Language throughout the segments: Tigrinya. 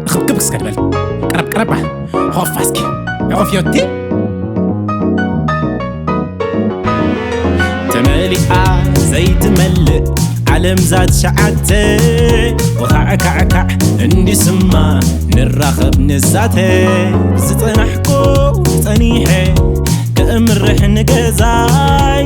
ክብክብ እስከ ድበል ቀረብ ቀረብ በል ሆፋ እስኪ ኦፍ ዮቲ ተመሊኣ ዘይትመልእ ዓለም ዛት ሸዓተ ወኻዕካዕካዕ እንዲስማ ንራኸብ ንዛተ ዝጸናሕኮ ጸኒሐ ከእምርሕ ንገዛይ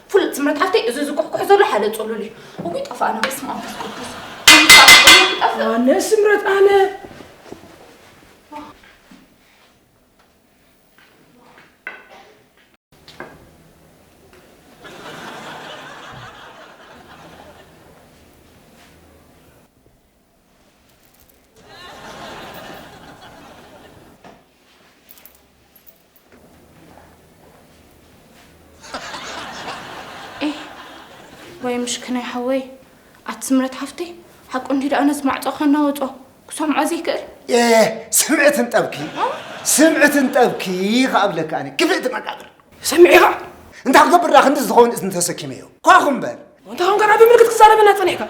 ፍሉጥ ስምረት ሓፍተይ እዚ ዝኩሕኩሕ ዘሎ ሓደ ጽሉል እዩ እውይ ጠፋእና በስመ ኣብ መንፈስ ቅዱስ ይጠፍእ። ኣነ ስምረት ኣነ ኤህ ወይ ምሽክናይ ሓወይ ኣቲ ስምረት ሓፍተይ ሓቁ እንዲ ደኣ ነዚ ማዕጾ ከናወጾ ክሰምዖ ዘይክእል ኤህ ስምዕት እንጠብኪ ስምዕት እንጠብኪ ከኣብለካ ኣነ ክፍእቲ መቃብር ሰሚዕኻ እንታይ ክገብር ዳ ክንዲ ዝኸውን እዝኒ ተሰኪመዮ ኳኹ እምበር እንተኾን ገና ብምልክት ክዛረበና ጸኒሕካ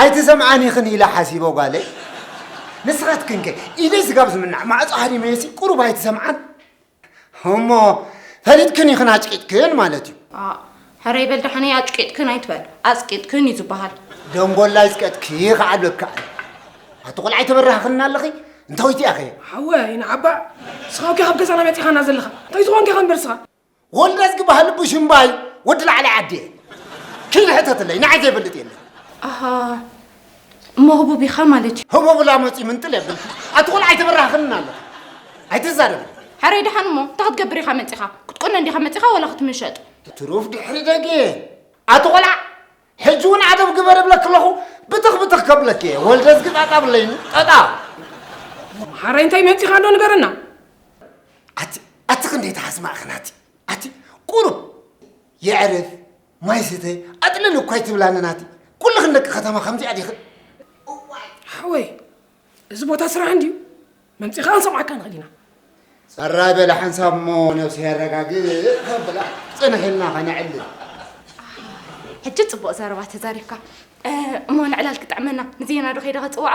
ኣይትሰምዓን ኢኽን ኢለ ሓሲቦ ጓለይ ንስኻትክን ከ ኢደይ ስጋብ ዝምናዕ ማዕጾ ሃዲመየሲ ቁሩብ ኣይትሰምዓን እሞ ፈሊጥክን ኢኽን ኣጭቂጥክን ማለት እዩ ኣእ ሕረይ በል ደሓነይ ኣጭቂጥክን ኣይትበል ኣጽቂጥክን እዩ ዝበሃል ደንጎላ ኣይጽቀጥኪ ከዓ ኣለካ ኣቲ ቆልዓ ኣይተበራህኽና ኣለኺ እንታዊት እያ ኸ ሓወ ይንዓባ ስኻውኪ ካብ ገዛና መጺኻና ዘለኻ እንታይ ዝኾንኪ ኸ እምበር ስኻ ወልደዝ ግባህል ቡሽምባይ ወዲ ላዕላይ ዓዲ ኪን ሕተትለይ ንዓይ ዘይፈልጥ የለ ኣሃ እሞ ህቡብ ኢኻ ማለት እዩ ህቡብላ መፂ ምንጥል የብልኪ ኣቲ ቆልዓ ኣይተበራህኽንን ኣለኹ ኣይትዛረብ ሕረይ ድሓን እሞ እንታይ ክትገብር ኢኻ መፂኻ ክትቆነ እንዲኻ መፂኻ ወላ ክትምሸጥ ትሩፍ ድሕሪ ደጌ ኣቲ ቆልዓ ሕጂ ውን ዓገብ ግበር እብለኪ ኣለኹ ብትኽ ብትኽ ከብለኪ እየ ወልደዝጊ ጣጣ ብለይኒ ጠጣ መሓረይ እንታይ መጺኻ ዶ ንገረና ኣቲ ኣቲ ክንደይ ተሓስማዕ ክናቲ ኣቲ ቁሩብ የዕርፍ ማይ ስተ ኣጥልል እኳ ይትብላኒ ናቲ ኩልኽን ደቂ ከተማ ከምዚኣ ዲኽን ሓወይ እዚ ቦታ ስራሕ እንድዩ መምፂኻ ክንሰምዓካ ንኽእል ኢና ጸራይ በለ ሓንሳብ እሞ ነብሲ የረጋግእ ከብላ ጽንሕና ከነዕሊ ሕጂ ጽቡቕ ዘረባ ተዛሪብካ እሞ ንዕላል ክጥዕመና ንዜና ዶ ከይደ ከጽዋዓ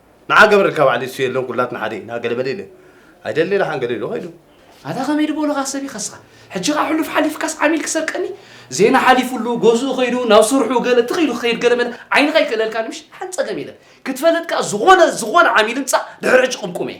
ንዓ ገብረልካ ባዕሉ እሱ የለን ኩላትና ሓደ ኢና ገለ በለ ኢለ ኣይደሊ ኢለ ሓንገደ ኢሉ ከይዱ ኣታ ከመይ ድበሉኻ ሰብ ይኸስኻ ሕጂ ኸዓ ሕሉፍ ሓሊፍካስ ዓሚል ክሰርቀኒ ዜና ሓሊፉሉ ገዝኡ ከይዱ ናብ ስርሑ ገለ ትኽ ኢሉ ክኸይድ ገለ መለ ዓይንኻ ይክእለልካ ንምሽ ሓንፀገም የለን ክትፈለጥ ከዓ ዝኾነ ዝኾነ ዓሚል ምፃእ ድሕሪ ሕጂ ቅምቁመ እየ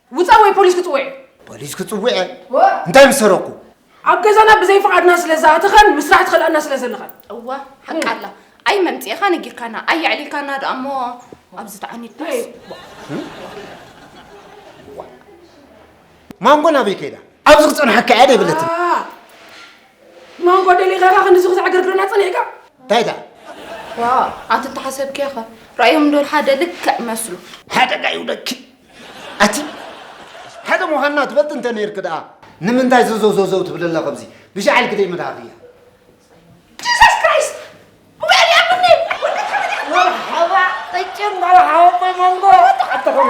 ውፃእ ወይ ፖሊስ ክፅውዕ እየ ፖሊስ ክፅውዕ እየ እንታይ ምስ ሰረቕኩ ኣብ ገዛና ብዘይ ፍቓድና ስለ ዝኣተኻን ምስራሕ ትኸልኣና ስለ ዘለኻን እወ ሓቂ ኣላ ኣይ መምፅእኻ ነጊርካና ኣይ የዕሊልካና ደኣ እሞ ኣብዚ ተዓኒድ ማንጎ ናበይ ከይዳ ኣብዚ ክፀንሓካ እያ ደይብለትን ማንጎ ደሊኻ ኢኻ ክንዚ ክዘዕገርግረና ፀኒሕካ እንታይ ደኣ ዋ ኣቲ ተሓሰብኪ ኢኻ ራእዮም ዶል ሓደ ልክዕ መስሉ ሓደጋ ይውደኪ ኣቲ ሓደ ምዃንና ትፈልጥ እንተ ነርክ ደኣ ንምንታይ ዘዘዘዘው ትብል ኣላ ከምዚ ብሻዕል ግደይ መድሃኽ እያ ጂሰስ ክራይስት ብጋሊ ኣብኒ መርሓባ ጠጭን መርሓባ ኣቦይ መንጎ ኣተኸም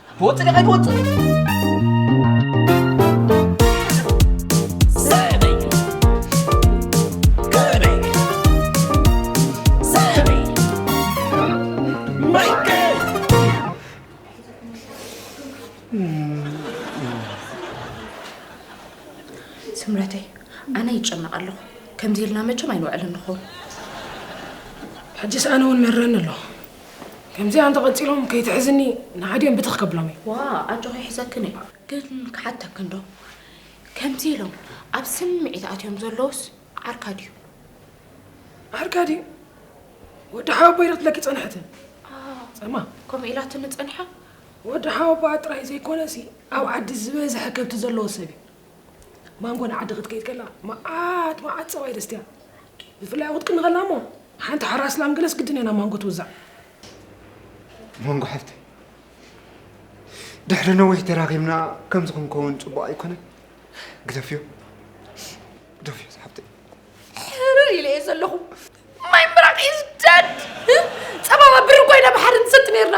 ክወፅእ ዲኻ ኣይትወፅእ ስምረተይ ኣነ ይጨነቕ ኣለኹ ከምዚ ኢልና መቸም ኣይንውዕልን ንኸውን ሕጂስ ኣነ እውን መረኒ ኣሎ ከምዚኣ እንተቐጺሎም ከይትሕዝኒ ንሓዲኦም ብትኽ ከብሎም እየ። ዋእ ኣጆኺ ይሕዘክን እየ። ግን ክሓተክንዶ ከምዚ ኢሎም ኣብ ስምዒት ኣትዮም ዘለዉስ ዓርካ ድዩ? ዓርካ ድዩ? ወዲ ሓወቦይ ኢላትለኪ ጸንሐት። ጸማ ከምኡ ኢላትኒ ጸኒሓ? ወዲ ሓወቦኣ ጥራይ ዘይኮነሲ ኣብ ዓዲ ዝበዝሐ ከብቲ ዘለዎ ሰብ እዩ። ማንጎ ንዓዲ ክትከይድ ከላ መዓት መዓት ፀባ ይደስትያ ብፍላይ ኣብኡ ክትቅኒ ከላ እሞ ሓንቲ ሓራስ ላም ገለስ ግድን እያ ናብ ማንጎ ትውዛዕ ማንጎ ሓፍተይ ድሕሪ ነዊሕ ተራኺብና ከምዚ ክንከውን ፅቡቕ ኣይኮነን ግደፍዮ ግደፍዮ ሓፍተይ ሕርር ኢለ እየ ዘለኹ ማይ ምራቕ ኢዝ ደድ ፀባባ ብሪ ኮይና ብሓደ ንሰቲ ነይርና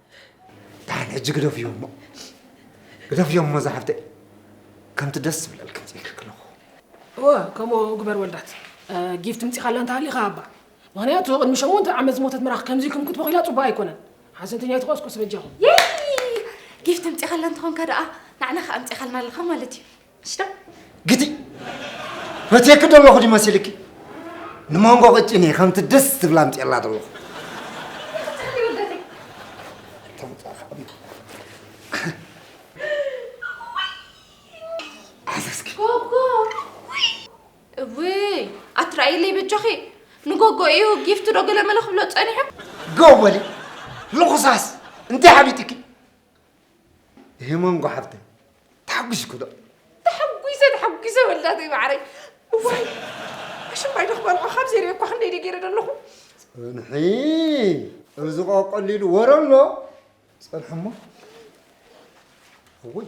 ዳሓን ሕጂ ግደፍዮ እሞ ግደፍዮ እሞ ዛሓፍተይ ከምቲ ደስ ዝብለልክ ምፅኢልክ ክለኹ እወ ከምኡ ግበር ወልዳት ጊፍ ትምፂኻ ኣላ እንተሃሊኻ ሃባ ምክንያቱ ቅድሚ ሸሞንተ ዓመት ዝሞተት ምራኽ ከምዚ ኢልኩም ክትበኺላ ፅቡቅ ኣይኮነን ሓዘንተኛ ይትቆስቁስ በጃኹም ጊፍ ትምፂኻ ኣላ እንተኾንካ ደኣ ናዕና ከዓ ኣምፂኻልና ኣለኻ ማለት እዩ እስታ ግዲ ፈትየኪ ዶ ኣለኹ ድዩ መሲልኪ ንመንጎ ቅጭኔ ከምቲ ደስ ዝብላ ኣምፅኤላ ዶ ኣለኹ እውይ ኣትረኣይለይ በጃኺ ንጎጎ እዩ ጊፍቲ ዶ ገለመለ ክብሎ ፀኒሑ ጎ በሊ ልኹሳስ እንታይ ሓቢጥኪ ሄሞን ጓሓፍተይ ተሓጒስኩ ዶ ተሓጒሰ ተሓጒሰ ወዳተይ ማዕረይ እዋይ ኣሽማይ ዶ ክበልዖ ካብ ዘይሪኦ እኳ ክንደይ ደ ገይረ ዶ ኣለኹ ፅንሒ እዚ ቆቀሊሉ ወረ ኣሎ ፅንሒ እሞ እውይ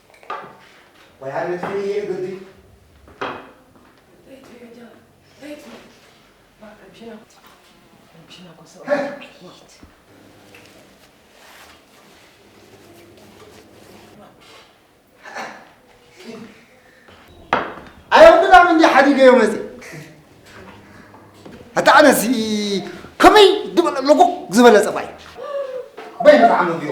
ወይ ኣነ ትሕን እየ እግዲ ኣይወድዳም እንዲ ሓዲገዮ መፅ ኣታ ኣነሲ ከመይ ዝበለ ለጎ ዝበለ ፀባይ በይ ንጣዕሚ ብዮ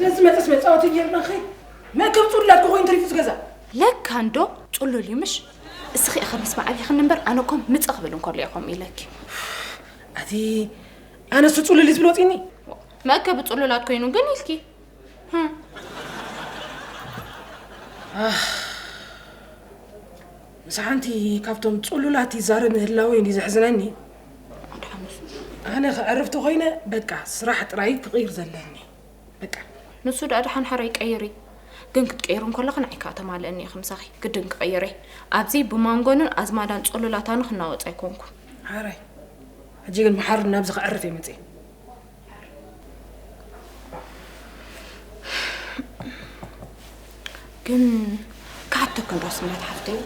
ዘዝመጸስ መጻወቲ ጌርና ኸይ መእከብ ጹላት ክኾይን ተሪፉ ዝገዛ ለካ እንዶ ጹሉል እዩ ምሽ እስኺ እኸ ምስ መዓቢኽኒ እምበር ኣነ ኮም ምጽእ ክብል እንከሎ እየ ከምኡ ኢለኪ ኣቲ ኣነሱ ጹሉል ዝብል ወጺኒ መእከቢ ጹሉላት ኮይኑ ግን ኢልኪ ምስ ሓንቲ ካብቶም ጹሉላት ይዛረብ ምህላወ እዩ ዘሕዝነኒ ኣነ ከዕርፍ ተኾይነ በቃ ስራሕ ጥራይ ክቕይር ዘለኒ በቃ ንሱ ደኣ ድሓን ሓራ ይቀይር እዩ ግን ክትቀይሩ እንከለኽን ዓይካ ተማልእኒ እየ ክምሳኺ ግድን ክቐይር እየ ኣብዚ ብማንጎንን ኣዝማዳን ጾሎላታን ክናወፅ ኣይኮንኩን ሓራይ ሕጂ ግን ብሓር ናብዚ ክዕርፍ እየ መፅእ ግን ክሓተክን ዶ ስምረት ሓፍተይ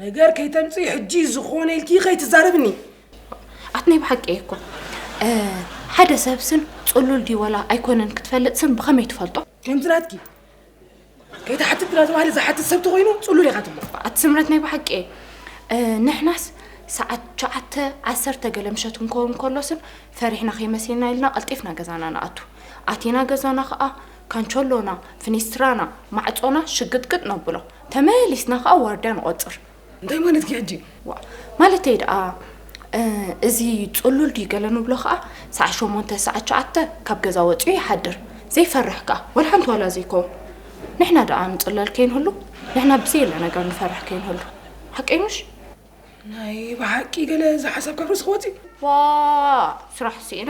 ነገር ከይተምፅኢ ሕጂ ዝኾነ ኢልኪ ከይትዛረብኒ ኣት ናይ ብሓቂ እየ እኮ ሓደ ሰብ ስም ፅሉል ድዩ ዋላ ኣይኮነን ክትፈልጥ ስም ብኸመይ ትፈልጦ ከምቲ ናትኪ ከይተሓትት እናተባህለ ዝሓትት ሰብ ተኮይኑ ፅሉል ኢኻ ትብሎ ኣቲ ስምረት ናይ ብሓቂ እየ ንሕናስ ሰዓት ሸዓተ ዓሰርተ ገለ ምሸት ክንከውን ከሎስን ፈሪሕና ከይመሲልና ኢልና ቀልጢፍና ገዛና ንኣቱ ኣቲና ገዛና ከዓ ካንቸሎና፣ ፍኒስትራና፣ ማዕጾና ሽግጥግጥ ነብሎ። ተመሊስና ከኣ ዋርድያ ንቖጽር። እንታይ ማለትኪ ሕጂ? ዋእ! ማለተይ ደኣ እዚ ጽሉል ድዩ ገለ ንብሎ ከኣ ሰዓት ሸሞንተ ሰዓት ሸዓተ ካብ ገዛ ወጺኡ ይሓድር። ዘይፈርሕ ከኣ ወላ ሓንቲ ዋላ ዘይከውን። ንሕና ደኣ ንጽለል ከይንህሉ፣ ንሕና ብዘየለ ነገር ንፈርሕ ከይንህሉ። ሓቀይ ምሽ? ናይ ብሓቂ ገለ ዝሓሰብካ ርእሲ ክወጽእ እዩ። ዋእ! ስራሕ ስኢነ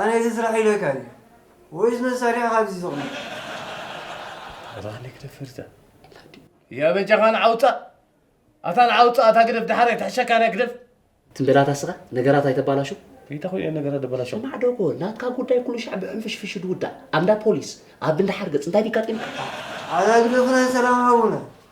ኣነ እዚ ስራሕ ኢለካ ድየ ወይስ መሳርሒ ካብዚ ዝቕንዕ። ኣታ ንግደ ፍርዛ ላዲ። የበጃኻ ንዓውፃ ኣታ ንዓውፃ ኣታ ግደፍ ድሓር ኣይትሕሸካ ናይ ግደፍ ትም በላ ታስኻ ነገራት ኣይተባላሹ ይታኹ እየ ነገራት ደበላሹ ስማዕ ዶጎ ናትካ ጉዳይ ኩሉ ሻዕ ብዕንፍሽፍሽ ድውዳእ ኣብንዳ ፖሊስ ኣብ እንዳ ሓርገፅ እንታይ ዲጋጢምካ ኣታ ግደፍ ናይ ሰላም ሓውና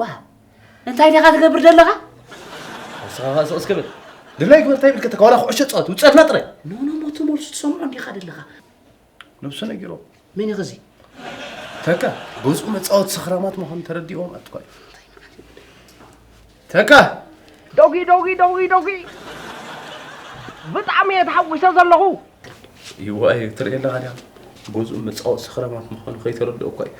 ዋው እንታይ ዲኻ ትገብር ዘለኻ ንስኻ ኸኣ ስቕስ ክብል ድላይ ግበር እንታይ ይብልከተካ ዋላ ኩዕሾ ፃወት ውፅኣትና ጥራይ ኖኖሞ ትመልሱ ትሰምዖ እንዲኻ ደለኻ ነብሱ ነጊሮ መን እዩ ኸዚ ተካ ገዝኡ መፃወት ሰኽራማት ምዃኑ ተረዲኦም ኣትኳል ተካ ዶጊ ዶጊ ዶጊ ዶጊ ብጣዕሚ እየ ተሓጒሰ ዘለኹ ይዋ እዩ ትርእየ ኣለኻ ዲኻ ገዝኡ መፃወት ሰኽራማት ምዃኑ ከይተረድኦ እኳ እዩ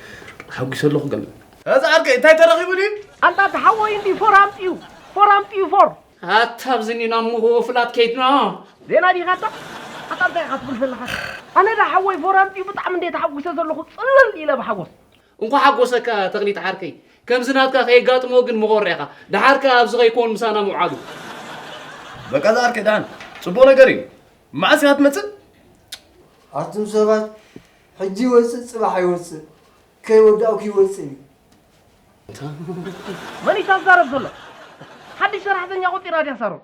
ተሓጒሰ ኣለኹ ገለ እዚ ዓርከይ እንታይ ተረኺቡ ድዩ? ኣንታ እቲ ሓወይ እንድዩ ፎር ኣምጺኡ ፎር ኣምጺኡ ፎር። ኣታ ኣብዚ እንድዩ ናብ ምውፍላት ከይድና። ዜና ዲኻ ኣታ? ኣታ እንታይ ኢኻ ትብል ዘለኻ? ኣነ ድኣ ሓወይ ፎር ኣምጺኡ ብጣዕሚ እንድየ ተሓጒሰ ዘለኹ ጽልል ኢለ ብሓጎስ። እንኳዕ ሓጎሰካ ተኽሊት ዓርከይ ከምዚ ናትካ ከየጋጥሞ ግን ምኾሪዕኻ ደሓር ከኣ ኣብዚ ከይኮን ምሳና ምውዓሉ። በቃ እዚ ዓርከይ ደሓን ጽቡቕ ነገር እዩ መዓስ ኢኻ ትመጽእ? ኣቱም ሰባት ሕጂ ይወጽእ ጽባሕ ኣይወጽእ ከይወዳኡ ክይወጽእ እዩ። መን እዩ ታዛረብ ዘሎ? ሓድሽ ሰራሕተኛ ቆጺራ ድያ ሳሮን?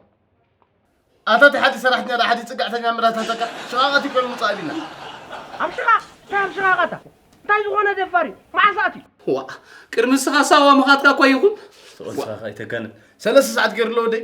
ኣታ እቲ ሓዲ ሰራሕተኛ ዶ ሓዲ ጽግዕተኛ ምራታተካ ሽቓቐት እዩ ኮይኑ ምጻእ ቢና ኣብ ሽቓ እንታይ ኣብ ሽቓቐታ እንታይ ዝኾነ ደፋር እዩ መዓስ ኣትዩ ዋ ቅድሚ ንስኻ ሳዋ ምኻትካ እኳ ይኹን ተቐልሳኻ ኣይተጋንን ሰለስተ ሰዓት ገይሩ ኣለዎ ደይ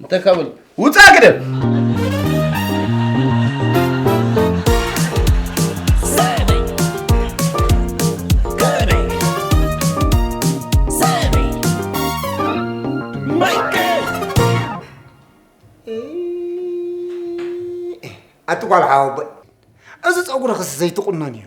እንታይ ካብ በል ውፃ ግደብ ኣቲ ጓል ሓወቦይ እዚ ፀጉርኽስ ዘይትቑነን እዩ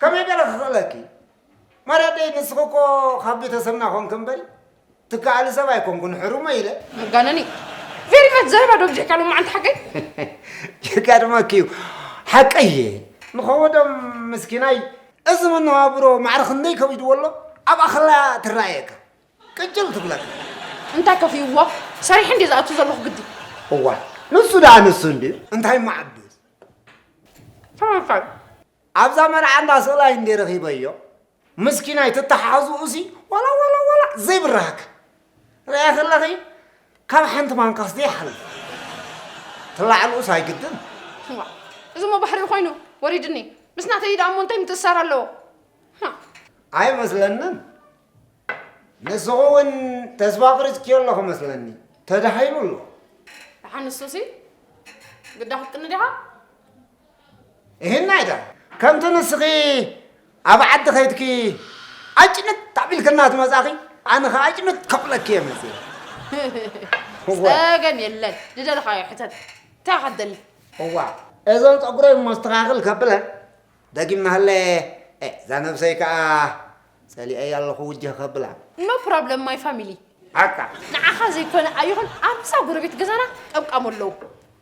ከመይ ገረ ክኽእለኪ ማራደይ ንስኺ እኮ ካብ ቤተሰብና ኮንኪ እምበሪ ትከኣሊ ሰብ ኣይኮንኩን ሕሩመይ ኢለ። መጋነኒ ቬሪ ማች ዘረባ ዶ ብጅሕካ ሎማዓንቲ ሓቀይ ይገርመኪ እዩ ሓቀይ እየ ንኸወዶም ምስኪናይ እዚ መነባብሮ ማዕረ ክንደይ ከቢድዎ ኣሎ ኣብኣ ከላ ትረኣየካ ቅጭል ትብለካ እንታይ ከፊእዎ ሰሪሐ እንዲ ዝኣቱ ዘለኹ ግዲ እዋ ንሱ ደኣ ንሱ እንድዩ እንታይ ማዓዱ ተመፋል ኣብዛ መርዓ እንዳ ስእላይ እንድየ ረኺበዮ ምስኪናይ ትተሓሕዝኡሲ ዋላ ዋላ ዋላ ዘይብራህኪ ርኣያ ከለኺ ካብ ሓንቲ ማንካስ ዘይሓልፍ ትላዕልኡስ ኣይግድን እዚ እሞ ባሕሪኡ ኮይኑ ወሪድኒ ምስ ናተይ ደኣ እሞ እንታይ ምትእሳር ኣለዎ ኣይመስለንን ንስኹ እውን ተስፋ ቅሪፅኪዮ ኣለኹ መስለኒ ተዳሂሉ ኣሎ ደሓን ንሱሲ ግዳ ክትቅኒ ዲኻ እህና እታ ከምቲ ንስኺ ኣብ ዓዲ ከይድኪ ኣጭንት ታቢልክና ትመጻኺ ኣነ ከ ኣጭንት ከብለኪ እየ መጽየ ጸገም የለን ዝደለኻዮ ሕተት እንታይ ከደሊ እዋ እዞም ጸጉረይ መስተኻኽል ከብለ ደጊም ናህለ እዛ ነብሰይ ከዓ ጸሊአይ ኣለኹ ውጀህ ከብላ ኖ ፕሮብለም ማይ ፋሚሊ ኣካ ንዓኻ ዘይኮነ ኣይኹን ኣብዛ ጎረቤት ገዛና ቀምቃሙ ኣለዉ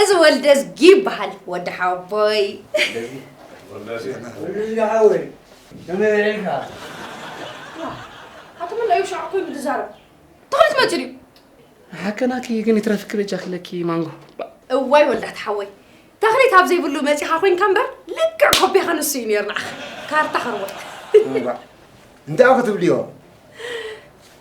እዚ ወልደዝጊ ይበሃል ወዲ ሓወቦይ። ወልደዝጊ ሓወይ ከመይ ውዒልካ? ኣቲ ምን ኣዩ ሻዕ ኮይኑ ዝዛረብ እንታይ ክትመፅእ ድዩ? ሓቀናኪ ግን ይትረፍኪ በጃኪ ለኪ ማንጎ እዋይ ወልዳት ሓወይ ተኽሊት ኣብ ዘይብሉ መፂኻ ኮንካ እምበር ልክዕ ኮቤኻ ንሱ እዩ ነይሩ ንዓኻ ካርታ ከርወጥ እንታዩ ክትብልዮ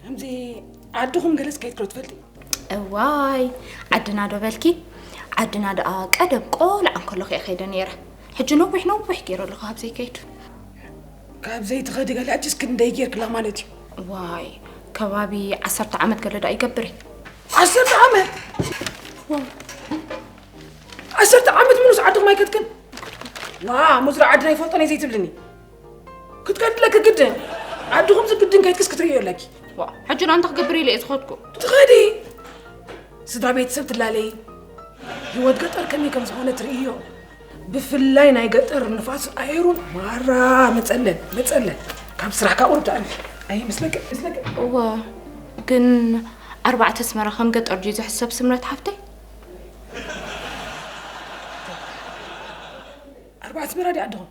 ከምዚ ዓድኹም ገለጽ ከይትክሎ ትፈልጢ እዋይ ዓድና ዶ በልኪ ዓድና ደኣ ቀደም ቆልዓ እንከለኹ እየ ከይደ ነይረ ሕጂ ነዊሕ ነዊሕ ገይረ ኣለኹ ኣብ ዘይከይዱ ካብ ዘይትኸዲ ገለ ሕጂስ ክንደይ ጌርክላ ማለት እዩ ዋይ ከባቢ ዓሰርተ ዓመት ገለ ደኣ ይገብር እዩ ዓሰርተ ዓመት ዓሰርተ ዓመት ሙሉስ ዓድኹም ኣይከድክን ዋ ሙዝራ ዓድና ይፈልጦ ነይ ዘይትብልኒ ክትከድለኪ ግድን ዓድኹም ዝግድን ከይትክስ ክትርእዮ ኣለኪ ዋ ሕጂ ን ኣንታ ክገብር ኢለ እየ ዝኸድኩ ትኸዲ ስድራ ቤተሰብ ትላለይ ህይወት ገጠር ከመይ ከም ዝኾነ ትርእዮ ብፍላይ ናይ ገጠር ንፋስ ኣየሩን ማራ መፀለን መፀለን ካብ ስራሕካ ቁሩብ ትኣልፊ ኣይ ምስለቀ ምስለቀ እወ ግን ኣርባዕተ ኣስመራ ከም ገጠር ድዩ ዝሕሰብ ስምረት ሓፍተይ ኣርባዕተ ኣስመራ ድኣ ኣድኹም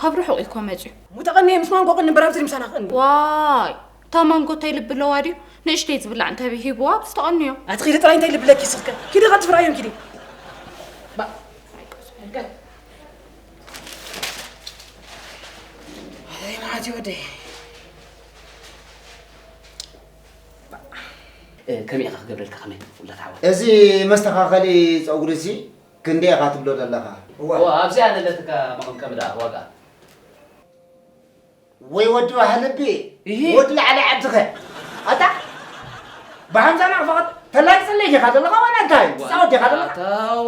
ካብ ርሑቕ እዩ እኮ መፂኡ። እሞ ተቐንየ ምስ ማንጎ ቅኒ ብራብዝሪ ምሳና ክቕኒ። ዋይ እታ ማንጎ እንታይ ልቢ ኣለዋ ድዩ ንእሽተይ ዝብላዕ እንተበይ ሂብዋ ብስ ተቐንዮ። ኣቲ ኪዲ ጥራይ እንታይ ልቢ ለኪ ስኽከ ኪዲ ቀልጥፊ ርኣዮም ኪዲ መዓት ይወደይ ከመይ ኢኻ ክገብረልካ ከመይ ውላድ ሓወይ እዚ መስተኻኸሊ ፀጉሪ እዚ ክንደይ ኢኻ ትብሎ ዘለኻ? እወ ኣብዚኣ ዘለትካ መቐምቀሚ ደኣ ዋግኣ? ወይ ወዲ ባህልቢ እሂ! ወዲ ላዕሊ ዓድኸ? ኣታ ብሃምዛ ናቕፋ ኸ ተላግጸለይ ዲኻ ዘለኻ ዋላ እንታይ? ትጻወት ዲኻ ዘለኻ? ኣታ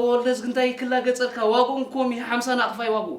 ወልደዝጊ እንታይ ክላገጸልካ ዋግኡ እንኮ ሚሂ ሓምሳ ናቕፋ እዩ ዋግኡ።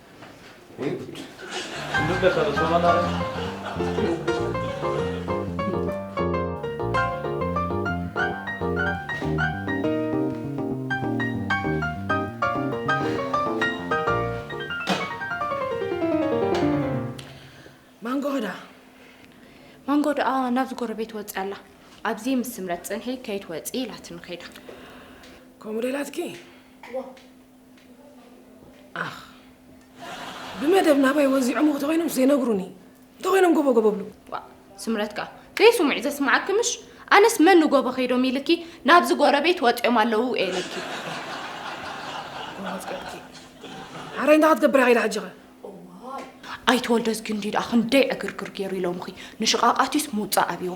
ናብዚ ጎረቤት ወፂ ኣላ ኣብዚ ምስ ስምረት ፅንሒ ከይትወፂ ኢላትኒ ከይዳ ከምኡ ዶ ኢላትኪ ኣኽ ብመደብ ናባይ ወዚዖም እንተኾይኖም ዘይነግሩኒ እንተኾይኖም ጎቦ ጎቦ ብሉ ስምረት ከዓ ዘይስሙዕ ዘስምዓኪ ምሽ ኣነስ መን ንጎቦ ከይዶም ኢልኪ ናብዚ ጎረቤት ወጢኦም ኣለዉ ኤልኪ ዓረይ እንዳ ክትገብራ ከይዳ ሕጂ ኣይተወልደዝጊ እንዲ ደኣ ክንደይ ዕግርግር ገይሩ ኢሎምኺ ንሽቓቓትዩስ ምውፃእ ኣብዎ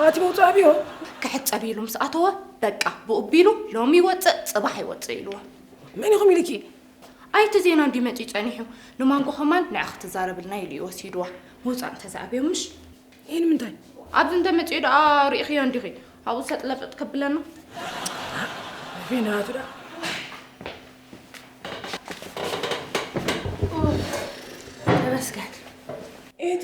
ኣቲ መውፃእ ብዮ ክሕፀብ ኢሉ ምስ ኣተወ በቃ ብኡ ቢሉ ሎሚ ይወፅእ ፅባሕ ይወፅእ ኢልዎ መን ይኹም ኢልኪ ኣይቲ ዜና እንዲ መፂ ፀኒሑ ንማንጎ ከማን ንዕ ክትዛረብልና ኢሉ እዩ ወሲድዋ ምውፃእ እንተዝኣብዮ ምሽ ይህ ንምንታይ ኣብዚ እንተመፅኡ ደኣ ርኢኽዮ እንዲኺ ኣብኡ ሰጥለፍጥ ከብለና ፊናቱ ደኣ ተመስገን እቲ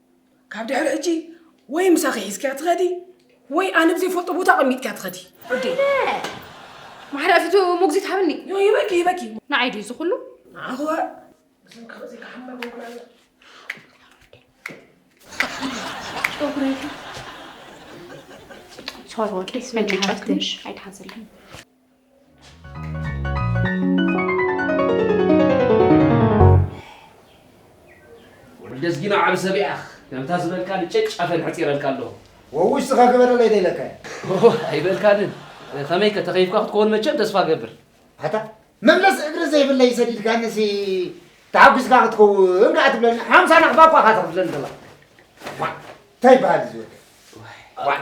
ካብ ድሕሪ ሕጂ ወይ ምሳኺ ሒዝክያ ትኸዲ ወይ ኣነ ብዘይፈልጦ ቦታ ኣቐሚጥክያ ትኸዲ ርዲ ማሕዳ ፊቱ ሞግዚት ሃብኒ ይበኪ ይበኪ ንዓይ ድዩ እዚ ኩሉ ንዓኹ እዞም ካብዚ ክሓመር ምኩራና ሶሪ ወደይ ስመጫ ትንሽ ኣይትሓዘለይ ወዲ ኣዝጊና ዓቢ ሰብ ኢኻ ከምታ ዝበልካ ልጨጭ ኣፈን ሕጺረልካ ኣለኹ ወውሽ ስኻ ግበረለይ ደይለካዮ ኣይበልካንን ከመይ ከ ተኸይፍካ ክትከውን መቸም ተስፋ ገብር ኣታ መምለሲ እግሪ ዘይብለይ ሰዲድካንሲ ተሓጒስካ ክትከውን ከዓ ትብለኒ ሓምሳ ናኽባ እኳ ካ ተኽፍለኒ ዘለካ እንታይ ይበሃል እዚ ወዲ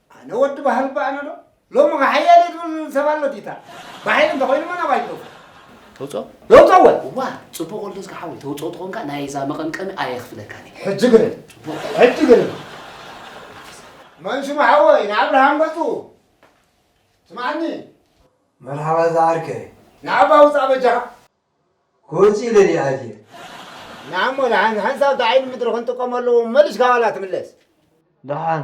ኣነ ወዲ ባህል ባእ ነዶ ሎሚ ከ ሓያለይ ዝብል ሰብ ኣሎ ዲታ ብሓይሊ እንተኮይኑ መን ኣባይ ይገብር ተውፅኦ ለውጦ ወ እዋ ፅቡቅ ወልደ ዝካ ሓወይ ተውፅኦ ትኾንካ ናይ እዛ መቐምቀሚ ኣየኽፍለካን እዩ ሕጂ ግርም ሕጂ ግርም መን ሽሙ ሓወይ ንኣብርሃም ገጹ ስማዓኒ መርሓባ እዛ ዓርከይ ንዓባ ውፃእ በጃኻ ክወፅእ ኢለ ድየ ኣትየ ንዓሞ ንሓንሳብ ዳዓይኒ ምድሪ ክንጥቀመሉ መሊሽካ ዋላ ትምለስ ደሓን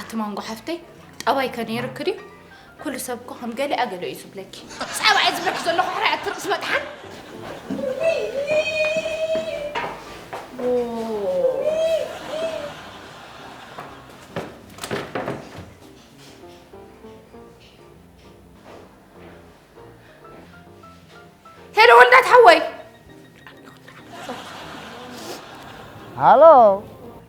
ኣቲ ማንጎ ሓፍተይ ጠባይ ከ ነይርክ ድዩ ኩሉ ሰብ እኮ ከም ገሊኣ ገለ እዩ ዝብለኪ ጸባ እየ ዝብለኪ ዘለኹ ሕራይ ኣትርቅስ መጥሓን ሄሎ ወልዳት ሓወይ ሃሎ